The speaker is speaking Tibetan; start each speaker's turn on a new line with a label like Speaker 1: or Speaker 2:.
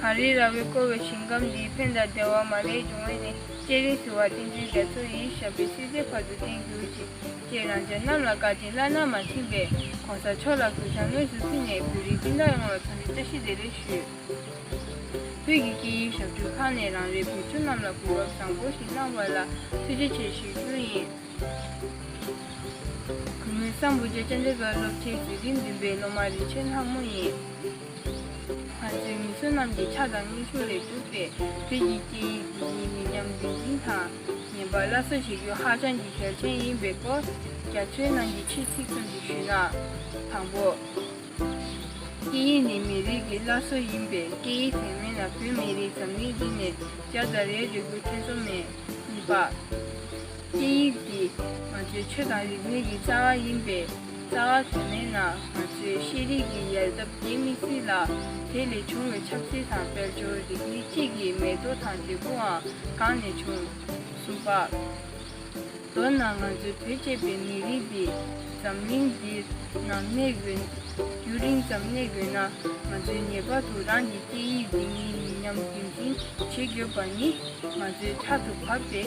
Speaker 1: གངས་རིའི་ར་བས་བསྐོར་བའི་ཞིང་ཁམས་འདིའི་ཕན་དང་བདེ་བ་མ་ལས་འབྱུང་བས་ནི་སྐྱེས་རིང་ཟིལ་བ་གཏིང་འཛིན་རྒྱ་མཚོ་ཡིས་བཞག་པའི་སྲིད་རྩེའི་བར་དུ་བརྟན་གྱུར་ཅིག་ཅེས་རང་ཅག་རྣམས་ལ་བཀའ་དྲིན་བླ་ན་མ་མཐུན་པས་གོང་ས་མཆོག་ལ་གུས་ཕྱག་དངོས་སུ་ཕུལ་ནས་བོད་རིགས་སྤྱི་དང་ཡོངས་ལ་མཚོན་ཆ་བཀྲ་ཤིས་བདེ་ལེགས་ཞུ། བོད་ཀྱི་སྐད་ཡིག་ཞབས་བྲོའི་ཁག་ནས་རང་རེའི་བོད་ཕྲུག་རྣམས་ལ་གོ་སྐབས་བཟང་པོ་ཞིག་གནང་བ་ལ་ཐུགས་རྗེ་ཆེ་ཞུ་རྒྱུ་ཡིན། ངོས་གསང་བུ་རྒྱལ་སྤྱན་རས་གཟིགས་སློབ་ཆེན་དགེ་རྒན་བདུན་པའི་སློབ་མ་རིན་ཆེན་ལྷ་མོ་ཡིན། ང་ཚོའི་མི་ཚོ་རྣམས་ཀྱི་ཕྱག་དང་སྙིང་ཆུང་ལས་གྲུབ་པས་བོད་ཀྱི་སྐད་ཡིག་དེ་ཉིད་མི་ཉམས་རྒྱུན་འཛིན་དང་ཉན་པར་སླར་གསོ་བྱེད་རྒྱུ་ཧ་ཅང་གི་གལ་ཆེན་ཡིན་པའི་སྐོར་རྒྱ་མཚོའི་ནང་གི་ཆེས་ཚིག་ཙམ་ཞིག་ཞུས་ན། དང་པོ། སྐད་ཡིག་ནི་མི་རིགས་ཀྱི་སླར་གསོ་ཡིན་པས་སྐད་ཡིག་དེ་མེད་ན་བོད་མི་རིགས་འཛམ་གླིང་འདི་ནས་རྒྱ་དང་རའི་རིགས་རྒྱུད་ཐེ་ཚོམ་མེད། གཉིས་པ། སྐད་ཡིག་འདི་ང་ཚོའི་ཆོས་དང་རིག་གནས་ཀྱི་རྩ་བ་ཡིན་པས་རྩ་བ་དེ་མེད་ན་ང་ཚོའི་ཤེས་རིག་གི་ཡལ་འདབ་རྒྱས་མི་སྲིད་ལ། དེ་ལས་བྱུང་བའི་ཆབ་སྲིད་དང་དཔལ་འབྱོར་རིག་གནས་སྤྱི་ཀྱི་མེད་དོ་དང་འབྲས་བུའང་གང་ནས་བྱུང། གསུམ་པ། མདོར་ན་ང་ཚོའི་བོད་ཅེས་པའི་མི་རིགས་འདི་འཛམ་གླིང་འདིར་ནམ་གནས་ཡོད། རྒྱུན་རིང་ཙམ་གནས་ཡོད་ན་ང་ཚོས་ངེས་པར་དུ་རང་གི་སྐད་ཡིག་འདི་ཉིད་ཡིན་སྙམ་རྒྱུན་འཛིན་བྱེད་དགོས་པ་ནི་ང་ཚོའི་ཕྲག་ཏུ་བབས་ཏེ།